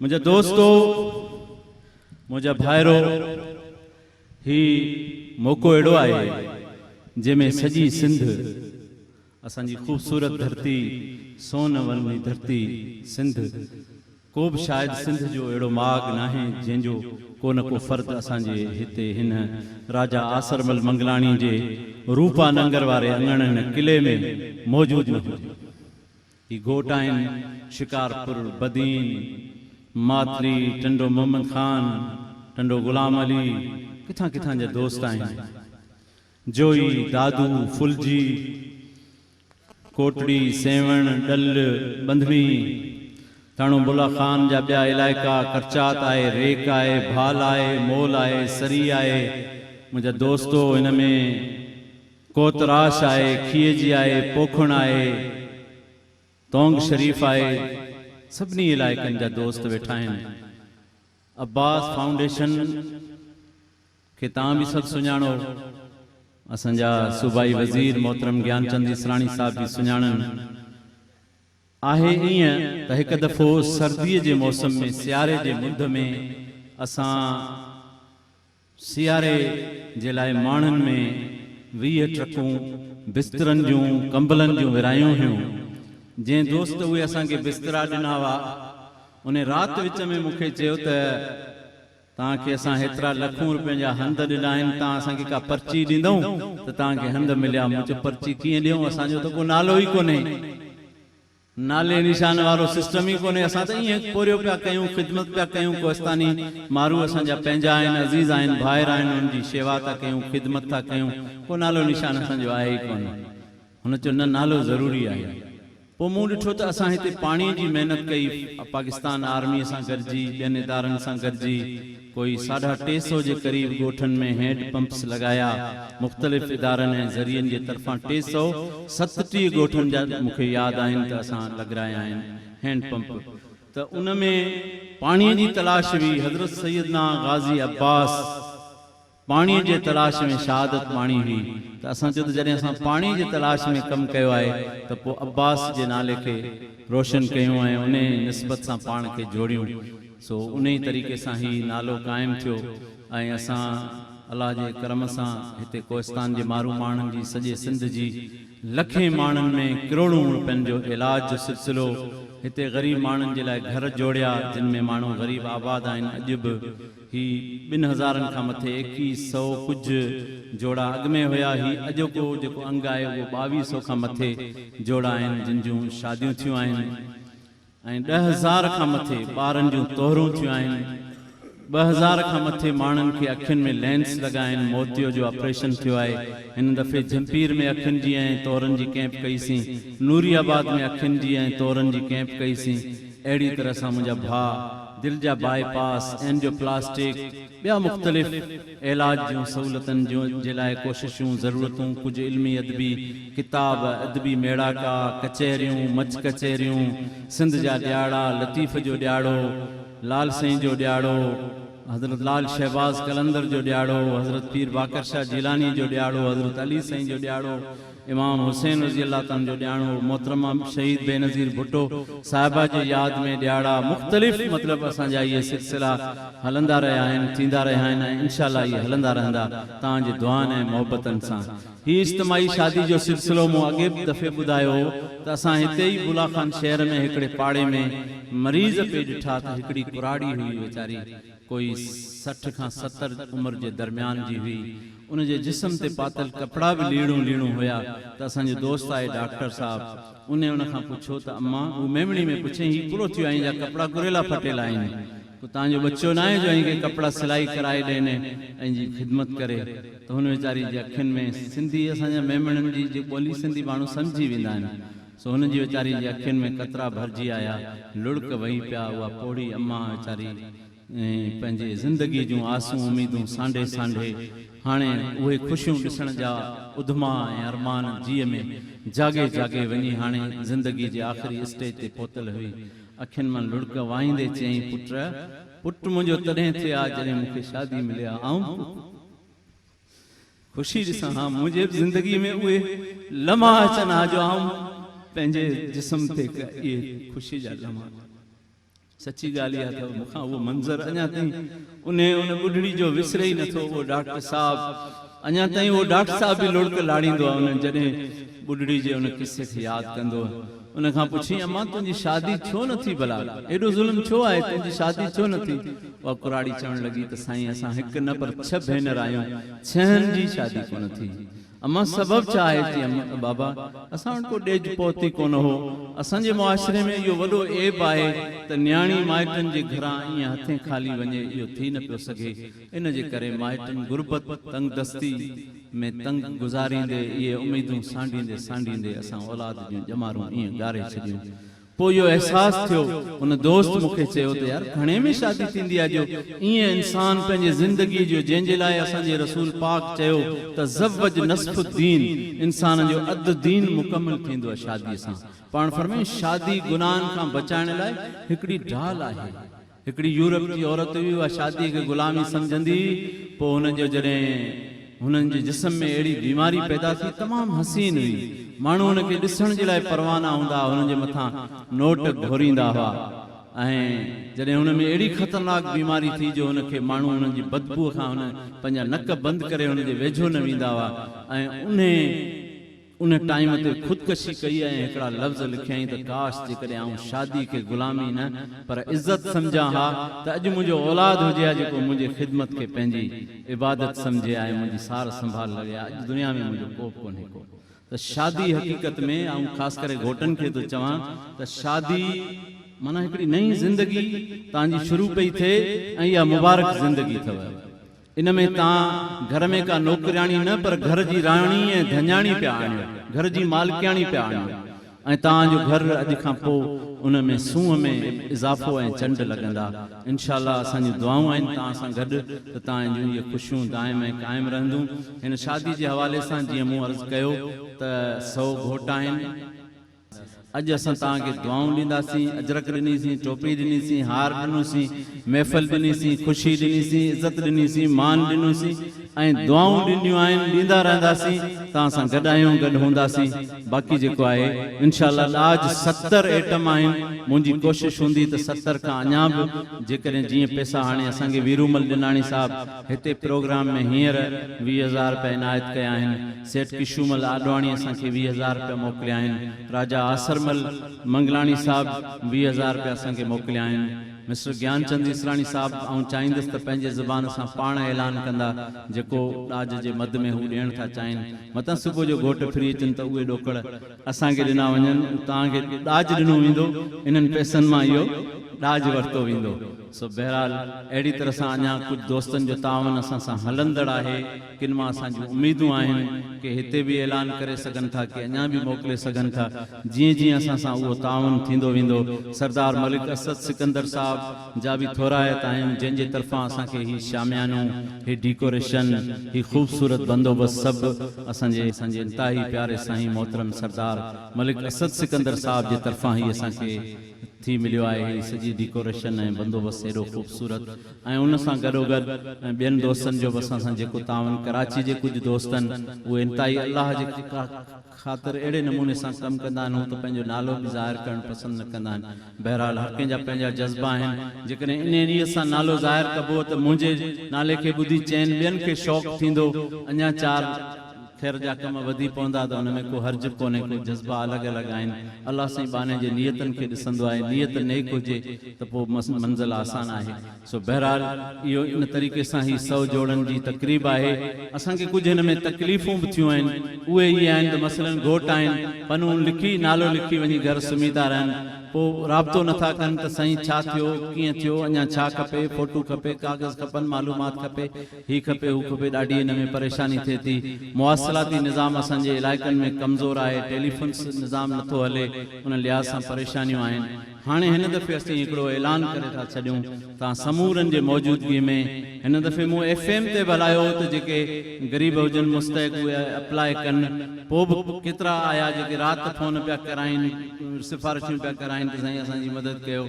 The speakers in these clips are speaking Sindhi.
منهنجا دوستو، منهنجا ڀائرو، هي موقعو اهڙو آهي، جنهن ۾ سڄي سنڌ، اسان جي خوبصورت ڌرتي، سون ون جي ڌرتي سنڌ، ڪو به شايد سنڌ جو اهڙو ماڳ ناهي، جنهن جو ڪو نه ڪو فرد اسان جي هتي هن راجا آسرمل منگلاڻي جي روپا ننگر واري اڱڻ هن قلعي ۾ موجود نه هجي. هي گهوٽ آهن، شڪارپور، بدين، ماتلي، ٽنڊو محمد خان، ٽنڊو غلام علي، ڪٿان ڪٿان جا دوست آهن. جوئي، دادو، ڦلجي، ڪوٽڙي، سيوهڻ، ڏل، ٻنڌڻي، ٿاڻو بلا خان جا ٻيا علائقا، ڪرچات آهي، ريڪ آهي، ڀال آهي، مول آهي، سري آهي، منهنجا دوستو هن ۾ ڪوتراش آهي، کيجي آهي، پوکڻ آهي، تونگ شريف آهي، سڀني علائقن جا دوست ويٺا آهن. عباس فائونڊيشن کي توهان به سڀ سڃاڻو، اسان جا صوبائي وزير محترم گيان چند ايسراڻي صاحب به سڃاڻن. آهي ائين ته هڪ دفعو سرديء جي موسم ۾ سياري جي مند ۾ اسان، سياري جي لاء ماڻهن ۾ ويهه ٽرڪون بسترن جون ڪمبلن جون ورهايون هيون. جنهن دوست اهي اسان کي بسترا ڏنا هئا، ان رات وچ ۾ مون کي چيو ته، توهان کي اسان هيترا لکون رپين جا هنڌ ڏنا آهن، توهان اسان کي ڪا پرچي ڏيندئون ته توهان کي هنڌ مليا؟ مون چيو، پرچي ڪيئن ڏيئون، اسان جو ته ڪو نالو ئي ڪونهي. نالي نشان وارو سسٽم ئي ڪونهي اسان ته ائين پورهيو پيا ڪيون خدمت پيا ڪيون ڪوهستاني مارو اسان جا پنهنجا آهن عزيز آهن ڀائر آهن انهن جي شيوا ٿا ڪيون خدمت ٿا ڪيون ڪو نالو نشان اسان جو آهي ئي ڪونه هن چيو نه نالو ضروري آهي پوء مون ڏٺو ته اسان هتي پاڻي جي محنت ڪئي پاڪستان آرمي سان گڏجي ٻين ادارن سان گڏجي پوء ساڍا ٽي سؤ جي قريب ڳوٺن ۾ هينڊ پمپس لڳايا، مختلف ادارن ۽ ذريعن جي طرفان ٽي سؤ ستٽيهه ڳوٺن جا مون کي ياد آهن ته اسان لڳرايا آهن هينڊ پمپ ته ان ۾ پاڻي جي تلاش هئي حضرت سيدنا غازي عباس پاڻيء جي تلاش ۾ شهادت ماڻي هئي ته اسان چيو ته جڏهن اسان پاڻي جي تلاش ۾ ڪم ڪيو آهي ته پوء عباس جي نالي کي روشن ڪيون ۽ انهيء نسبت سان پاڻ کي جوڙيون سو انهيء طريقي سان هي نالو قائم ٿيو ۽ اسان الله جي ڪرم سان هتي ڪوهستان جي مارو ماڻهن جي سڄي سنڌ جي لکين ماڻهن ۾ ڪروڙون روپين جو علاج جو سلسلو هتي غريب ماڻهن جي لاء گهر جوڙيا جن ۾ ماڻهو غريب آباد آهن اڄ به هي ٻن هزارن کان مٿي ايڪيهه سئو ڪجهه جوڙا اڳ ۾ هيا. هي اڄوڪو جيڪو انگ آهي اهو ٻاويهه سئو کان مٿي جوڙا آهن جن جون شاديون ٿيون آهن ۽ ڏهه هزار کان مٿي ٻارن جون طهرون ٿيون آهن. ٻه هزار کان مٿي ماڻهن کي اکين ۾ لينس لڳا آهن. موتيو جو آپريشن ٿيو آهي. هن دفعي جهمپير ۾ اکين جي ۽ طهرن جي ڪئمپ ڪئي سين. نوري آباد ۾ اکين جي ۽ طهرن جي ڪئمپ ڪئي سين. اهڙي طرح سان منهنجا ڀاء دل جا باء پاس، اينجيو پلاسٽڪ، ٻيا مختلف علاج جون سهولتن جي لاء ڪوششون، ضرورتون، ڪجهه علمي ادبي ڪتاب، ادبي ميڙاڪا، ڪچهريون، مچ ڪچهريون، سنڌ جا ڏيهاڙا، لطيف جو ڏيهاڙو، لال سائين جو ڏيهاڙو، حضرت لال شهباز قلندر جو ڏيهاڙو، حضرت پير باقر شاهه جيلانيء جو ڏيهاڙو، حضرت علي سائين جو ڏيهاڙو، امام حسين رضي الله عنه جو ڏياڻو محترمه شهيد بينظير ڀٽو صاحبه جي ياد ۾ ڏياڙا مختلف مطلب اسان جا اهي سلسلا هلندا رهيا آهن ٿيندا رهيا آهن ۽ انشاء الله اهي هلندا رهندا توهان جي دعائن ۽ محبتن سان هي اجتماعي شادي جو سلسلو مون اڳي به دفعي ٻڌايو هو ته اسان هتي ئي بولا خان شهر ۾ هڪڙي پاڙي ۾ مريض پئي ڏٺا ته هڪڙي ڪراڙي هئي ويچاري ڪوئي سٺ کان ستر عمر جي درميان جي هئي. ان جي جسم تي پاتل ڪپڙا به ليڙون ليڙون هيا ته اسان جي دوست آئي ڊاڪٽر صاحب انهي ان کان پڇيو ته اما هو ميمڻي ۾ پڇين هي ڪڙو ٿيو آهين جا ڪپڙا ڪريلا ڦٽيل آهين ڪو تان جو ٻچو ناهي جو هنکي ڪپڙا سلائي ڪرائي ڏين ۽ جي خدمت ڪري ته هن ويچاري جي اکين ۾ سنڌي اسان جا ميمڻن جي جي ٻولي سنڌي ماڻهو سمجهي ويندا آهن سو هن جي ويچاري جي اکين ۾ قطرا ڀرجي آيا، لڙڪ وهي پيا، اها پوڙهي اما ويچاري پنهنجي زندگي جون آسون اميدون سانڍي سانڍي هاڻي اهي خوشيون ڏسڻ جا اڌما ۽ ارمان جيء ۾ جاڳي جاڳي وڃي هاڻي زندگي جي آخري اسٽيج تي پهتل هئي، اکين مان لڙڪ وهائيندي چيائين پٽ! پٽ منهنجو تڏهن ٿئي ها جڏهن مون کي شادي ملي ها، آئون به خوشي ڏسان ها منهنجي به زندگي ۾ اهي لمحا اچن ها جو آئون پنهنجي جسم تي اهي خوشي جا لمحا سچي ڳالهه اها اٿو مونکان اهو منظر اڃا تائين انهي ان ٻڍڙي جو وسري ئي نٿو اهو ڊاڪٽر صاحب اڃا تائين اهو ڊاڪٽر صاحب به لڙڪ لاڙيندو آهي انهن جڏهن ٻڍڙي جي ان قصي کي ياد ڪندو آهي ان کان پڇيائين امان تنهنجي شادي ڇو نه ٿي ڀلا؟ ايڏو ظلم ڇو آهي؟ تنهنجي شادي ڇو نه ٿي؟ اها ڪراڙي چوڻ لڳي ته سائين اسان هڪ نه پر ڇهه ڀينر آهيون، ڇهن جي شادي ڪونه ٿي. امان سبب ڇا آهي؟ چيم بابا اسان وٽ ڪو ڏيج پوت ئي ڪونه هو. اسان جي معاشري ۾ اهو وڏو عيب آهي ته نياڻي مائٽن جي گهران ائين هٿين خالي وڃي اهو ٿي نه پيو سگهي. ان جي ڪري مائٽن غربت، تنگدستي، ۾ تنگ گذاريندي اهي اميدون سانڍيندي سانڍيندي اسان اولاد جون ڄمارون ائين ڳاري ڇڏيون. پوء اهو احساس ٿيو. ان دوست مون کي چيو ته يار گهڻي ۾ شادي ٿيندي آهي جو ائين انسان پنهنجي زندگي جو جنهن جي لاء اسان جي رسول پاڪ چيو تزوج نصف الدين انسان جو اڌ دين مڪمل ٿيندو آهي شادي سان پاڻ فرمايائين شادي گناهن کان بچائڻ لاء هڪڙي ڍال آهي. هڪڙي يورپ جي عورت هئي، اها شاديء کي غلامي سمجهندي هئي، پوء هن جو جڏهن هنن جي جسم ۾ اهڙي بيماري پيدا ٿي، تمام حسين هئي، ماڻهو هن کي ڏسڻ جي لاء پروانا هوندا هئا، هن جي مٿان نوٽ گهوريندا هئا ۽ جڏهن هن ۾ اهڙي خطرناڪ بيماري ٿي جو هن کي ماڻهو هنن جي بدبوء کان هن پنهنجا نڪ بند ڪري هن جي ويجهو نه ويندا هئا ۽ انهي ان ٽائيم تي خودڪشي ڪئي ۽ هڪڙا لفظ لکيائين ته ڪاش جيڪڏهن آئون شادي کي غلامي نه پر عزت سمجهان ها ته اڄ منهنجو اولاد هجي ها جيڪو منهنجي خدمت کي پنهنجي عبادت سمجهي ها ۽ منهنجي سار سنڀال لڳي ها اڄ دنيا ۾ منهنجو ڪوبه ڪونهي ڪو ته شادي حقيقت ۾ آئون خاص ڪري گهوٽن کي ٿو چوان ته شادي معنيٰ هڪڙي نئين زندگي توهان جي شروع پئي ٿئي ۽ اها مبارڪ زندگي اٿو. ان ۾ توهان گهر ۾ ڪا نوڪرياڻي نه پر گهر جي راڻي ۽ ڌڃاڻي پيا آڻيو، گهر جي مالڪياڻي پيا آڻيو ۽ توهان جو گهر اڄ کان پوء ان ۾ سونهن ۾ اضافو ۽ چنڊ لڳندا. انشاء الله اسان جون دعائون آهن توهان سان گڏ ته توهان جون اهي خوشيون دائم ۽ قائم رهندون. هن شادي جي حوالي سان جيئن مون عرض ڪيو ته سؤ گهوٽ آهن. اڄ اسان توهان کي دعائون ڏينداسين، اجرڪ ڏنيسين، ٽوپي ڏنيسين، هار ڏنوسين، محفل ڏنيسين، خوشي ڏنيسين، عزت ڏنيسين، مان ڏنوسين ۽ دعائون ڏينديون آهن، ڏيندا رهنداسين، توهان سان گڏ آهيون، گڏ هونداسين، باقي جيڪو آهي انشاء الله ڏاج ستر ايٽم آهن، منهنجي ڪوشش هوندي ته ستر کان اڃا به جيڪڏهن جيئن پيسا هاڻي اسان کي ويرومل ڏناڻي صاحب هتي پروگرام ۾ هينئر ويهه هزار رپيا عنايت ڪيا آهن، سيٺ ڪشومل آڏواڻي اسان کي ويهه هزار رپيا موڪليا آهن، راجا آسرمل منگلاڻي صاحب ويهه هزار رپيا اسان کي موڪليا آهن، مسٽر گيان چند اسراڻي صاحب آئون چاهيندس ته پنهنجي زبان سان پاڻ اعلان ڪندا جيڪو ڏاج جي مد ۾ هو ڏيڻ ٿا چاهين متان صبح جو گهوٽ ڦري اچن ته اهي ڏوڪڙ اسان کي ڏنا وڃن اهو توهان کي ڏاج ڏنو ويندو انهن پئسن مان اهو ڏاج ورتو ويندو سو بهرحال اهڙي طرح سان اڃا ڪجهه دوستن جو تعاون اسان سان هلندڙ آهي. ڪن مان اسان جون اميدون آهن ڪي هتي به اعلان ڪري سگهن ٿا ڪي اڃا به موڪلي سگهن ٿا جيئن جيئن اسان سان اهو تعاون ٿيندو ويندو سردار ملڪ اسد سڪندر صاحب جا به ٿورائت آهيون جن جي طرفان اسان کي هي شاميانو هي ڊيڪوريشن هي خوبصورت بندوبست سڀ اسان جي اسان جي انتهائي پياري سائين محترم سردار ملڪ اسد سڪندر صاحب جي طرفان هي اسان کي ٿي مليو آهي هي سڄي ڊيڪوريشن ۽ بندوبست هيڏو خوبصورت ۽ ان سان گڏوگڏ ۽ ٻين دوستن جو به اسان سان جيڪو تعاون ڪراچي جي ڪجهه دوستن اهي انتهائي الله جي خاطر اهڙي نموني سان ڪم ڪندا آهن هو ته پنهنجو نالو به ظاهر ڪرڻ پسند نه ڪندا آهن بهرحال هر ڪنهن جا پنهنجا جذبا آهن جيڪڏهن انهيء ريت سان نالو ظاهر ڪبو ته منهنجي نالي کي ٻڌي چئن ٻين کي شوق ٿيندو اڃا چار خير جا ڪم وڌي پوندا ته ان ۾ ڪو حرج به ڪونهي ڪو جذبا الڳ الڳ آهن الله سائين ٻانهي جي نيتن کي ڏسندو آهي نيت نيڪ هجي ته پوء منزل آسان آهي سو بهرحال اهو ان طريقي سان هي سئو جوڙن جي تقريب آهي اسان کي ڪجهه هن ۾ تڪليفون به ٿيون آهن اهي هي آهن ته مثلن گهوٽ آهن پنهون لکي نالو لکي وڃي گهر سمهي ٿا رهن پوء رابطو نٿا ڪن ته سائين ڇا ٿيو ڪيئن ٿيو اڃان ڇا کپي فوٽو کپي ڪاغذ کپن معلومات کپي هي کپي هو کپي ڏاڍي ان ۾ پريشاني ٿئي ٿي مواصلاتي نظام اسان جي علائقن ۾ ڪمزور آهي ٽيليفونس نظام نٿو هلي ان لحاظ سان پريشانيون آهن هاڻي هن دفعي اسين هڪڙو اعلان ڪري ٿا ڇڏيون تان سمورن جي موجودگي ۾ هن دفعي مون ايف ايم تي به هلايو هو ته جيڪي غريب هجن مستحق اهي اپلاء ڪن پوء به ڪيترا آيا جيڪي رات فون پيا ڪرائين سفارشون پيا ڪرائين ته سائين اسان جي مدد ڪيو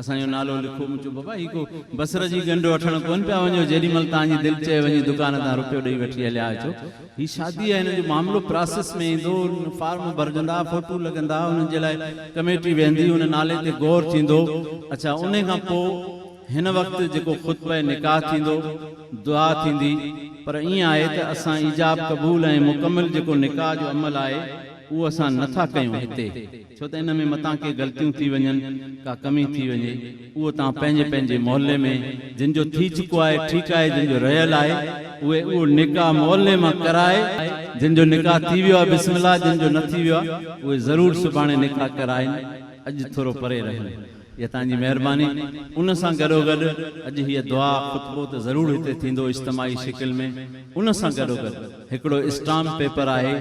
اسان جو نالو لکو مون چيو بابا هي ڪو بصره جي ڳنڍ وٺڻ ڪونه پيا وڃو جيڏي مهل توهان جي دل چئي وڃي دڪان تان روپيو ڏئي وٺي هليا اچو هي شادي آهي هن جو معاملو پراسيس ۾ ايندو فارم ڀرجندا فوٽو لڳندا انهن جي لاء ڪميٽي ويهندي ان نالي تي غور ٿيندو اڇا انهي کان پوء هن وقت جيڪو خطبه نڪاح ٿيندو دعا ٿيندي پر ائين آهي ته اسان ايجاب قبول ۽ مڪمل جيڪو نڪاح جو عمل آهي اهو اسان نه ٿا ڪيون هتي ڇو ته ان ۾ متان ڪي غلطيون ٿي وڃن، ڪا ڪمي ٿي وڃي، اهو توهان پنهنجي پنهنجي محلي ۾ جن جو ٿي چڪو آهي ٺيڪ آهي، جن جو رهيل آهي اهي اهو نڪاح محلي مان ڪرائي، جن جو نڪاح ٿي ويو آهي بسم الله، جن جو نه ٿي ويو آهي اهي ضرور سڀاڻي نڪاح ڪرائين، اڄ ٿورو پري رهن. اها توهان جي مهرباني. ان سان گڏوگڏ اڄ هيء دعا خطبو ته ضرور هتي ٿيندو اجتماعي شڪل ۾، ان سان گڏوگڏ. هڪڙو اسٽامپ پيپر آهي،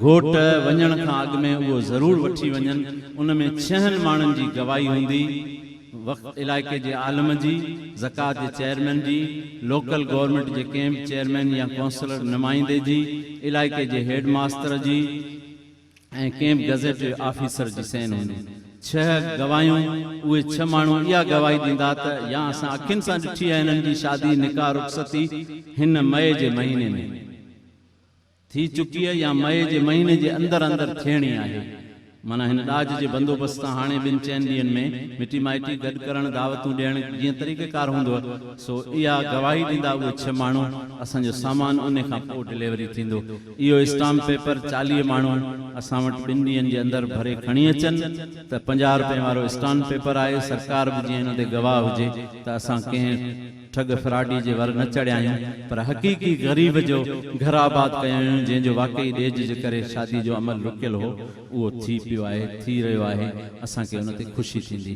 گهوٽ وڃڻ کان اڳ ۾ اهو ضرور وٺي وڃن، ان ۾ ڇهن ماڻهن جي گواهي هوندي، وقف علائقي جي عالم جي، زڪوات جي چيئرمين جي، لوڪل گورنمينٽ جي ڪنهن به چيئرمين يا ڪونسلر نمائندي جي، علائقي جي هيڊ ماستر جي، ۽ ڪنهن به گزيٽيڊ آفيسر جي سين هوندي. ڇهه گواهيون، اهي ڇهه ماڻهو اها گواهي ڏيندا ته يا اسان اکين سان ڏٺي آهي هنن جي شادي، نڪاح، رخصتي هن مئي جي مهيني ۾ ٿي چڪي يا مئي جي مهيني جي اندر اندر ٿيڻي آهي. معنيٰ هن ڏاج جي بندوبست تان هاڻي ٻن چئن ڏينهن ۾ مٽي مائٽي گڏ ڪرڻ، دعوتون ڏيڻ جيئن طريقيڪار هوندو سو اها گواهي ڏيندا اهي ڇهه ماڻهو، اسان جو سامان انهي کان پوء ڊليوري ٿيندو. اهو اسٽامپ پيپر چاليهه ماڻهو اسان وٽ ٻن ڏينهن جي اندر ڀري کڻي اچن ته پنجاهه رپين وارو اسٽامپ پيپر آهي، سرڪار به جيئن ان تي گواهه هجي ته اسان ڪنهن ٺڳ فراڊي جي ور نه چڙهيا آهيون پر حقيقي غريب جو گهر آباد ڪيو آهيون جنهن جو واقعي ڏيج جي ڪري شادي جو عمل رڪيل هو اهو ٿي پيو آهي، ٿي رهيو آهي، اسان کي ان تي خوشي ٿيندي.